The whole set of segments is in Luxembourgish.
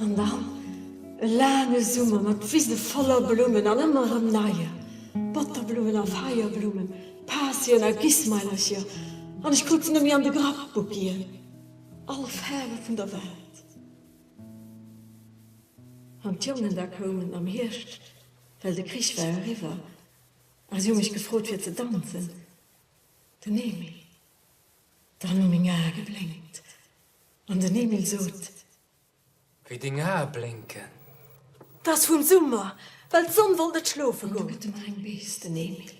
An dann e laange Summer mat Wise voller Blummen an ëmmer erëm neie Botterblummen a Feierblummen, Patien a Gismeilercher, an ech kucken net méi an de Grappbugien, all Faarwe vun der Welt. An d'Jongen da koumen am Hierscht, well de Krich war eriwwer, a si hu mech gefrot fir ze danzen. Den Emil, dann hu meng Ae geblénkt. An den Emil sot. Wéi deng Ae blénken. T'ass vum Summer, well d'Sonn wollt net schlofe goen. An du gëtt e mer eng Bees, den Emil,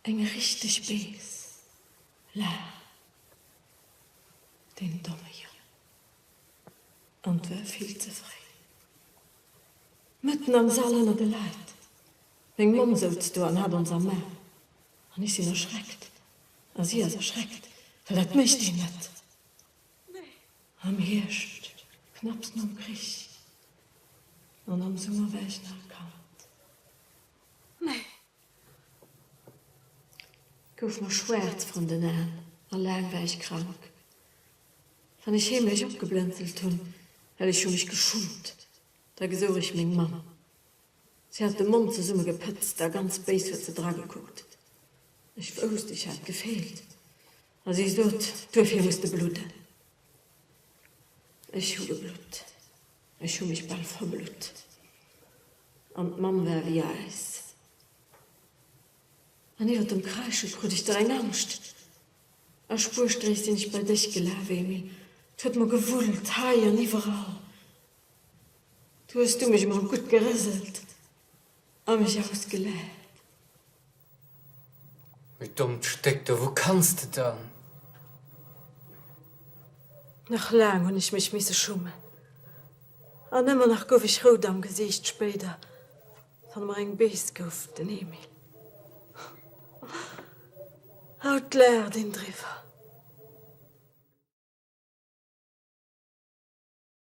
eng richteg Bees. Laach. Deen domme Jong. An 't war vill ze fréi. Mëtten am Sall ënner de Leit. Meng Mamm souz do an hat ons ermaach, an ech sinn erschreckt, a si ass erschreckt, well dat mécht een net am Hierscht, knapps nom Krich, an am Summer war ech nach e Kand. Meng Mamm gouf mer schwaarz vrun den Aen, a laang war ech krank. Wann ech heemlech opgeblënzelt hunn, well ech hu mech geschummt, da gesouch ech meng Mamm. Si hat de Mond zesummegepëtzt a ganz béis huet se dragekuckt. Ech wousst, ech hat gefeelt. A si sot, Duerfir muss de bludden. Ech hu geblutt. Ech hu mech bal verblutt. An d'Mamm war wéi Äis. An iwwer dem Kreische krut ech dereng Angscht. A Spuerstréiss sinn ech bei dech gelaf, Emil. 't huet mer gewullt, hei an iwwerall. Do hues du mech emol gutt gerëselt a mech ausgelaacht. Du dommt Stéck, do, wou kanns de dann? Nach laang hunn ech mech misse schummen an ëmmer nach gouf ech rout am Gesiicht, spéider, wann mer eng Bees gouf, den Emil. Haut laacht een driwwer.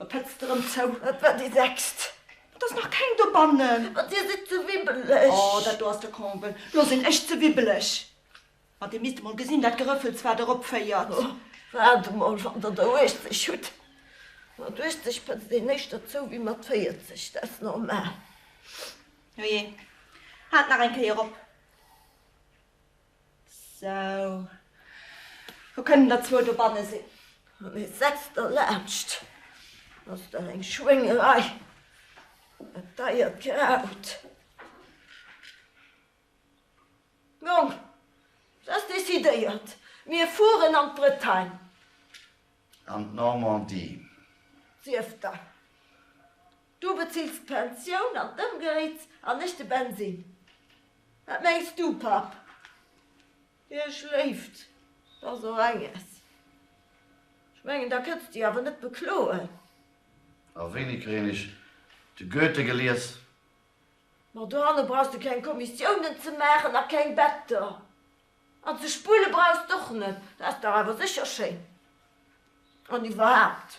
Da pëtz de rëm zou. Dat war déi sechst. Et ass nach keng dobannen. Ma dir sidd ze wibbeleg. Oh, dat do ass de Comble. Lo sinn ech ze wibbeleg. Ma dir misst emol gesinn, dat Gerëffels, wat erop féiert. Oh, waart emol, wann der der 80 hutt. Mat 80 pëtzt een éischter zou wéi mat 40, dat ass normal. Ojee, haalt nach eng Kéier op. Sou, lo kënnen der zwou dobanne sinn. Mee setzt der laanscht, ass dat eng Schwéngerei, dat deiert Kraut. Jong, et ass decidéiert, mir fueren an d'Bretagne. An d'Normandie. Sief der, Du bezills d'Pensioun an d'Ëmgéits an ech de Bensin. Wat mengs du, Papp? Hie schléift da sou enges. Ech mengen, da kënns de jo awer net bekloen. A wéini kréien ech de Goethe gelies? Ma dohanne brauchs de keng Kommissiounen ze maachen a keng Better. An ze spulle brauchs d'och net. Dat ass dach awer sécher schéin. An iwwerhaapt,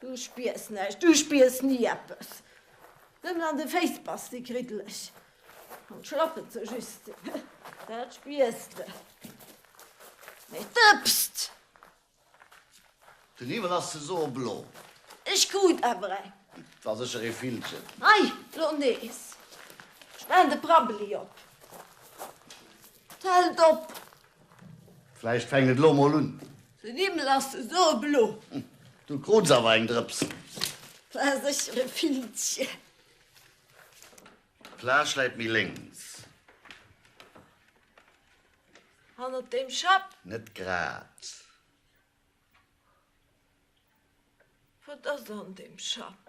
Du spiers näischt, du spiers ni eppes. Nëmmen an de Féiss bass de kriddeleg. An d'Schlappen ze justen, dat spiers de. Mee d'Ëpst! Den Hiwwel ass ze soe blo. Ech krut awer eng. War sécher ee Villchen. Hei, lo nees. Spen de Prabbeli op. D'Held op! Vläicht fänkt et lo mol un. Den Himmel ass so blo. Du krunns awer eng Drëps. War sécher e Filmchen. D'Plage läit méi lénks. Hannert dem Schapp. Net grad. Wat ass an dem Schapp?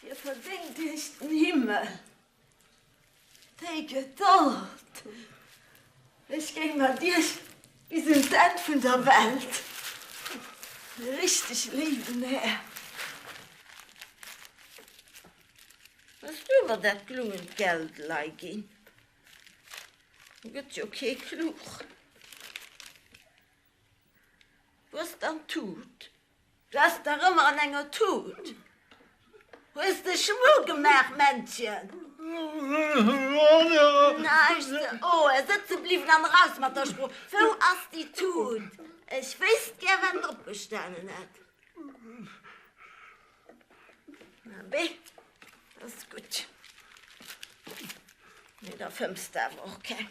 Dir verdéngt Iech den Himmel. Déi Gedold! Ech géing mat Iech bis un d'Enn vun der Welt, richteg léiwen Här. Hues du mer dat glungend Geld leiginn? Do gëtt jo kee klug. Wou ass dann d'Tut? Du ass dach ëmmer an enger Tut. Hues de Schmu gemaach, Männchen? Näischt ze oe sëtze bliwwen an eraus mat der Sprooch. Wou ass déi Tut? Ech wéisst gär, wat drop gestanen hätt. Abee, dat ass gutt. Mee da fëmms de awer och keng.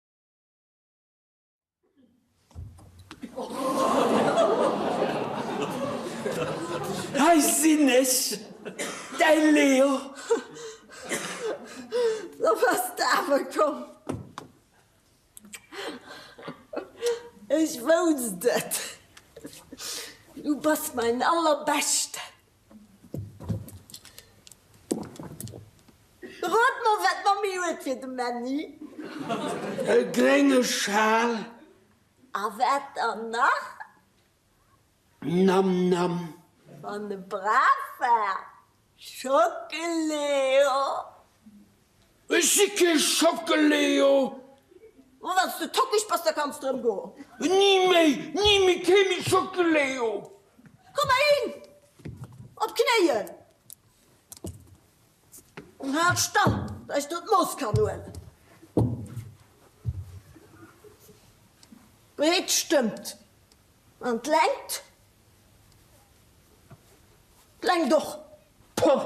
Hei sinn ech, däi Leo! Lo bass de awer komm. Ech wousst et, du bass mäin Allerbeschten. Rot mol wat d'Mammi huet fir de Männi. E grénge Schal. A wat dann nach? Nam Nam. Wann e brav war, Schockeleo. Ech si kee Schockeleo! Ma wann s de tockeg bass, da kanns de erëm goen. Ni méi! Ni méi! Kee méi Schockeleo! Komm heihin! Op d'Knéien! An hal stand, datt ech do d'Mooss kann huelen. D'Breet stëmmt. An d'Längt? D'Längt och. Puh!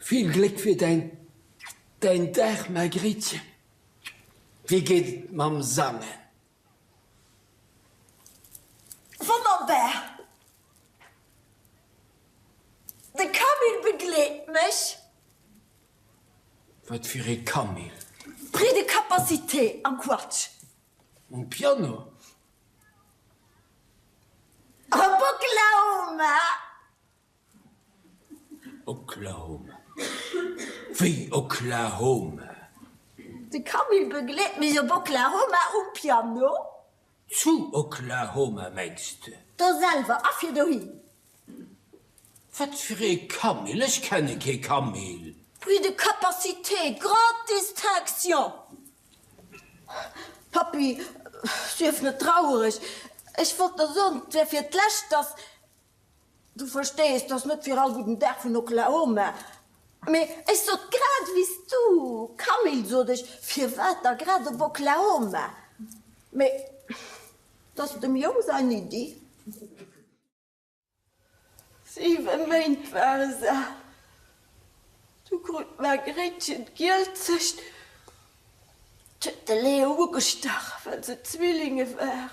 Vill Gléck fir däin Dag Margréitchen! Wéi geet et mam Sangen? Wonnerbar! De Camille begleet mech. Wat fir ee Camille? Prix de capacité am Quatsch. Um Piano? Am Boklama! Oklahoma, wéi Oklahoma. De Camille begleet mech op Oklahoma um Piano. Zu Oklahoma, mengs de? Do selwer a fir dohin. Wat fir ee Camille? Ech kenne kee Camille. Prix de capacité, grande distinction. Pappy, sief net traureg. Ech wollt der soen, 't wär fir d'lescht, dass. Du verstees, t'ass net fir all gudden Dag vun Oklahoma. Mee ech sot grad wéi s du, Camille, sot ech, firwat da grad op Oklahoma? Mee t'ass dem Jong sain Iddi. Siwe Méint ware se al, du krut d'Margréitchen d'Gielzecht, t'huet de Leo ugestach, well se Zwillinge waren.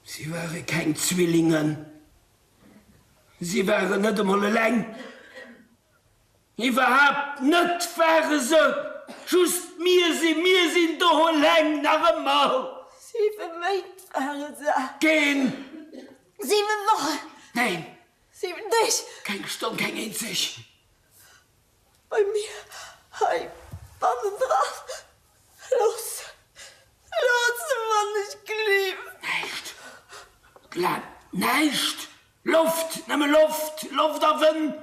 Si ware keng Zwillingen. Si waren net emol eleng. Iwwerhaapt net ware se just. Mir si. Mir sinn do eleng, nach ëmmer. Siwe Méint ware se. Keen. Siwen Wochen. Neen. Siwen Deeg. Keng Stonn, keng eenzeg. bei mir hei bannendran loossen, loossen, wann ech gleewen. Näischt, gleewen, näischt, Loft, nëmme Loft, Loft a Wënn.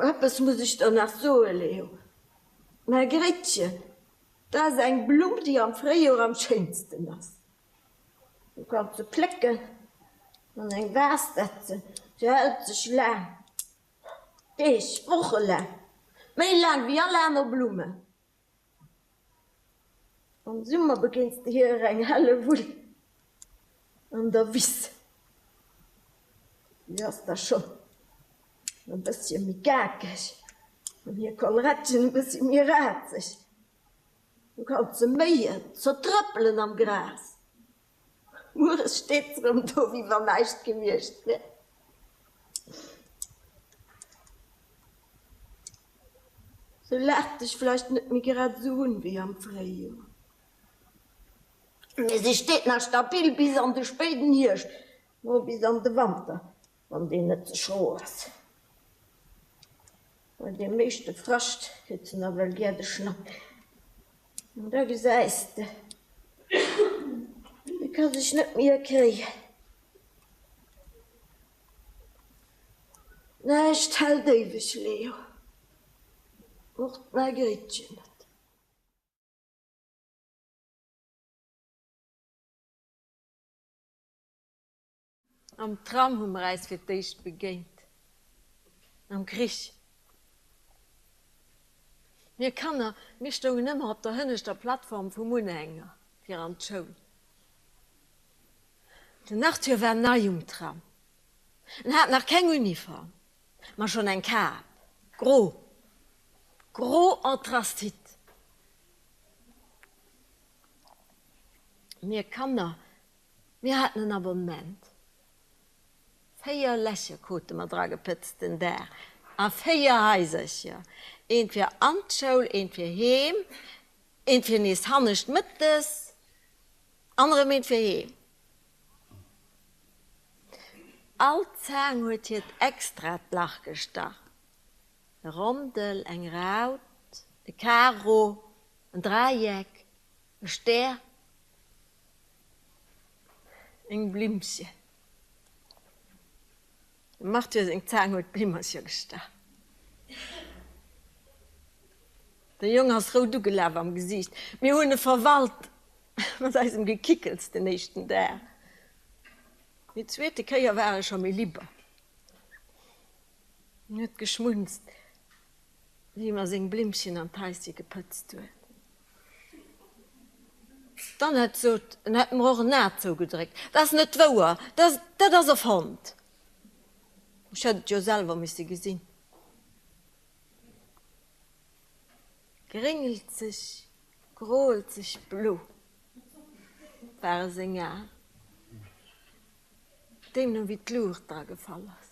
Eppes muss ech der nach soen, Leo, mäi Gréttchen, dat ass eng Blumm, déi am Fréijoer am schéinsten ass. Een kann se plécken an eng Vase setzen, se hält sech laang Deeg, Woche laang, méi laang wéi all aner Blumme. Am Summer begéins de hir eng helle Wull an der Wiss, si ass da schonn e bëssche méi gakeg an hir Kollerettchen e bëssche méi razeg. Haut ze méien, ze trëppelen am Gras, mueres steet se rëm do, wéi wann näischt gewiescht wär. Se laacht dech vläicht net méi grad esou un, wéi am Fréijoer, mä se steet nach stabil bis an de spéiden Hierscht, no bis an de Wanter. Wann deen net ze scho ass, well dee meeschte Frascht kritt se nawell gär de Schnapp. An da gesäis de, e ka sech net méi erkéien. Näischt hält éiweg, Leo, och d'Margréitchen net. Am Tram hu mer äis fir d'éischt begéint. Am Krich. Mir Kanner, mir stoungen ëmmer op der hënneschter Plattform vum Unhänger fir an d'Schoul. Den Arthur war nei um Tram. En hat nach keng Uniform, ma schonn eng Kap, gro, gro Anthrazit. Mir Kanner, Mir haten en Abonnement. Véier Lächek hate mer dragepëtzt den Daach a véier Haisercher, eent fir an d'Schoul, eent fir heem, eent fir nees hannescht mëttes an erëm eent fir heem. All Zaang huet hiert extraat Lach gestach, e Rondel, eng Raut, e Karo, en Dräieck, e Stär. Meng Blimmchen. Dem Arthur seng Zaang huet d'Blimmercher gestach. De Jong ass rout ugelaf am Gesiicht. Mir hunn e verwalt mat eisem Gekickels den éischten Dag. Déi zweete Kéier war e scho méi libber. En huet geschmunzt. Wéi mer seng Blimmchen an d'Häisje gepëtzt huet. Dann hätt sot, en hätt mer och en A zougedréckt. Dat ass net wouer, dat ass erfonnt. Ech hätt et jo selwer misse gesinn. Gréngelzeg, groelzeg blo ware seng Aen, deemno wéi d'Luucht dra gefall ass.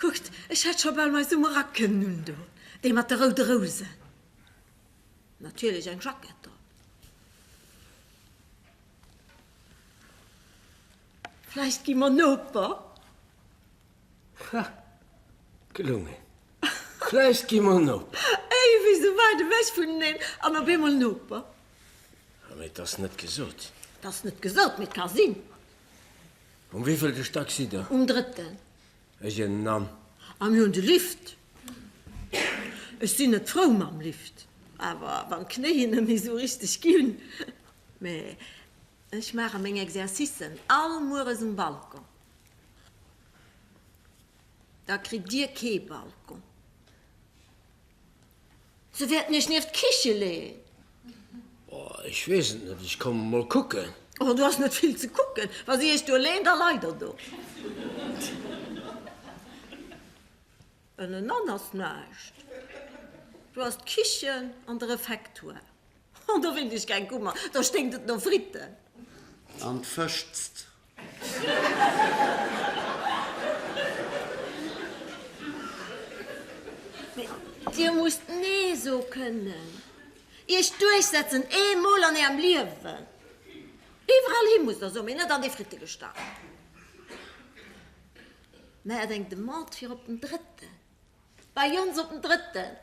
Kuckt, ech hätt scho bal mei Summer Rack kënnen undoen, dee mat de roude Rousen. Natierlech eng Jackett drop. Vläicht gi mer Noper? Ha, gelungen. Vläicht gi mer Noper. Ey, wéi sou weit ewech vuneneen an op eemol Noper. Mee 't ass net gesot. 't ass net gesot, mee 't ka sinn. Um wéivielten Stack sidd der? Um drëtten. Ech innen an. A mir hunn de Lift. Ech sinn net frou mam Lift, awer wann d'Knéien net méi esou richteg ginn. Mä ech maache meng Exercicen all mueres um Balcon. Da kritt Dir kee Balcon. Se wäerten iech nieft d'Kiche leeën. Oh, ech weess et net, ech komme mol kucken. Oh, do ass net vill ze kucken. Wa si iech do leeën, da leit der do. Ënnenan ass näischt. Do ass d'Kichen an de Refektoire. Oh, do wéilt iech keng Kummer, do sténkt et no Fritten. An d'Fëschzt Dir musst Nee so kënnen. Iech duerchsetzen, eemol an Ärem Liewen. Iwwerall hi musst Der soen, mee net an dee Frittegestach. Maacht eng Demande fir op den drëtten. Bei ons op den drëtten,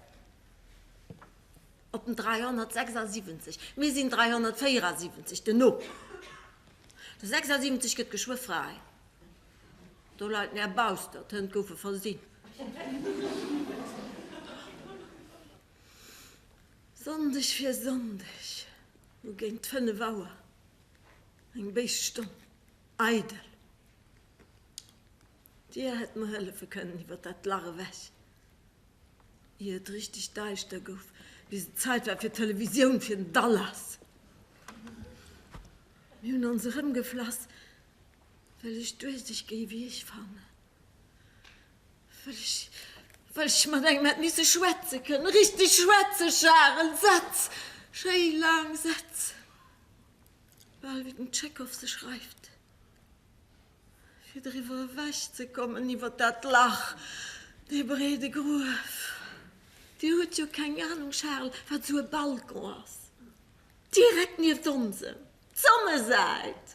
op den 376, mir sinn 374, den op de 76 gëtt geschwë fräi, do leit mär baustert, d'Hënn goufe versinn. Sonndeg fir Sonndeg hu géint fënnef Auer eng béis Stonn eidel. Dir hätt mer hëllefe kënnen iwwer dat Lach ewech, ier et richteg daischter gouf, bis et Zait war fir d'Televisioun, fir den Dallas. Mir hunn ons erëmgeflass, well ech duerseg géi wéi ech fannen, well ech, well ech mat engem hätt misse schwätze kënnen, richteg schwätzen, Charel, Sätz, schéi laang Sätz, bal wéi den Tschekov se schreift. Fir driwwer ewech ze kommen, iwwer dat Lach, dee breede Gruef. Dir hutt jo keng Anung, Charles, wat esou e Balcon ass. Direkt nieft onsem, d'Sonnesäit!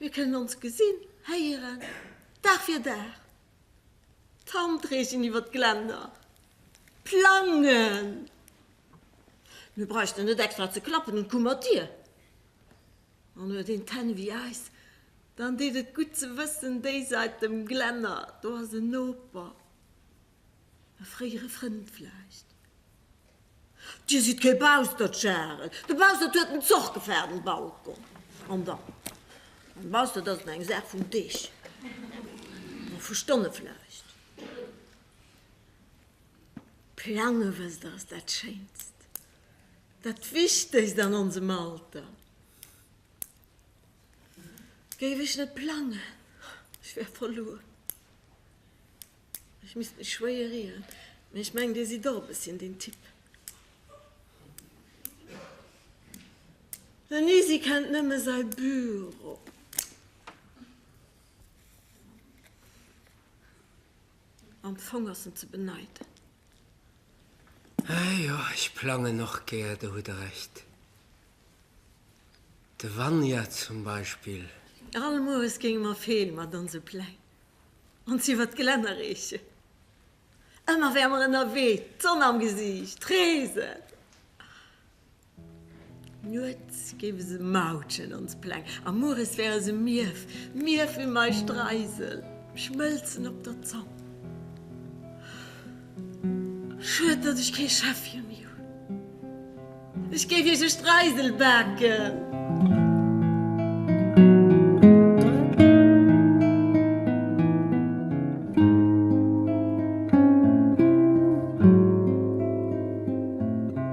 Mir kënnen ons gesinn, héieren, Dag fir Dag. D'Hand reechen iwwer d'Glänner. Plangen! Mir bräuchten net extra ze klappen un d'Kummertir. An huet een d'Hänn ewéi eis, dann deet et gutt ze wëssen, déi Säit dem Glänner, do ass en Noper, e fréiere Frënd vläicht. Dir sidd kee Baustert, Charel. De Baustert huet en Zoch gefaart um Balkon. An dann? E Baustert ass eng Saach vun Deeg, a vu Stonne vläicht. Plange, wësst Der, ass dat Schéinst. Dat Wichtegst an onsem Alter géif ech net plangen, ech wär verluer, ech misst mech schwéier ieren. Mee ech mengen, Dir sidd och e bësschen deen Typ. Den Isi kennt nëmme säi Büro. Am Fong ass en ze beneiden. Ahh jo, ech plangen och gär, do hutt der Recht. De Vanja zum Beispill. All Moes géinge mer Feel mat onse Pläng ons iwwer d'Gelänner reechen. Ëmmer wäre mer ënnerwee, d'Sonn am Gesiicht, reesen. Nuets géife se Mautschen, ons Pläng, a mueres wäre se Mief, Mief ewéi mei Streisel, schmëlzen op der Zong. Schued, datt ech kee Schäffche méi hunn, ech géif iech e Streisel baken.